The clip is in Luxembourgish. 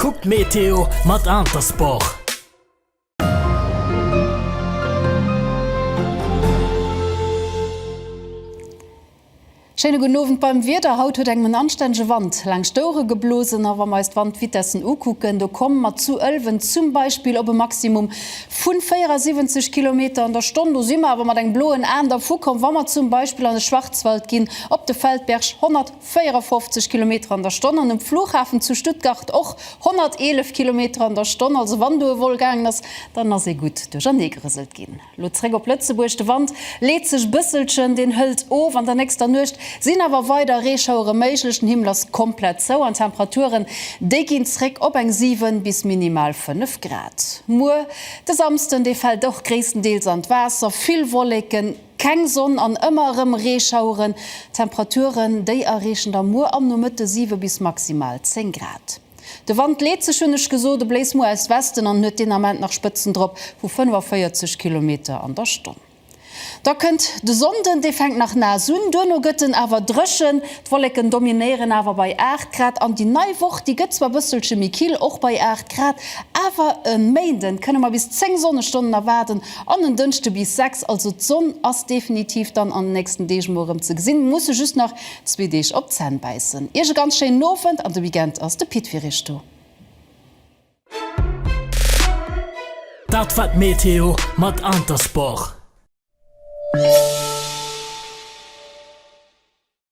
Kuck d'Meteo mat Intersport! Schéine gudden Owend beim Wieder. Haut huet engem en anstännege Wand laanscht d'Ouere geblosen. A wa mer eis d'Wandvitessen ukucken, do komme mer zu Ëlwen zum Beispill op e Maximum vu 74 Kilometer an der Stonn. Do si mer awer mat engem bloen Aen dervu komm, wa mer zum Beispill an de Schwarzwald ginn, op de Feldberg 100. 54 Kilometer an der Stonn an um Flughafen zu Stuttgart och 111 Kilometer an der Stonn. Also wann do e Vol gaangen ass, dann ass ee gutt duerchernee gerëselt ginn. Elo zréck op Lëtzebuerg, de Wand leet sech e bësselchen, deen hëlt of. An der nächster Nuecht sinn awer weider Reeschauere méiglech, den Himmel ass komplett zou an d'Temperaturen, déi ginn zréck op eng 7 bis minimal 5 Grad. Muer de Samsden, dee fält och gréisstendeels an d'Waasser, vill Wolleken. Keng Sonn an ëmmer erëm Reeschaueren. Temperaturen déi erreechen da muer am Nomëtte 7 bis maximal 10 Grad. De Wand leet sech, hunn ech gesot, e bléist muer aus Westen an huet deen Ament nach Spëtzen drop vu 45 Kilometer an der Stonn. Da kënnt de Sonnden, dee fänkt nach naass un, duerno gëtt en awer dréchen. D'Wolleken dominéieren awer bei 8 Grad an déi nei Woch, déi gëtt zwar bësselche méi kill, och bei 8 Grad, awer e Méinden kënne mer bis 10 Sonnestonnen erwaarden. An en Dënschde bis 6, also d'Sonn ass definitiv dann an den nächsten Deeg emol erëm ze gesinn, muss se just nach zwee Deeg op d'Zänn bäissen. Iech e ganz schéinen Owend an de Weekend ass de Pit fir iech do. Dat war d'Meteo mat Intersport.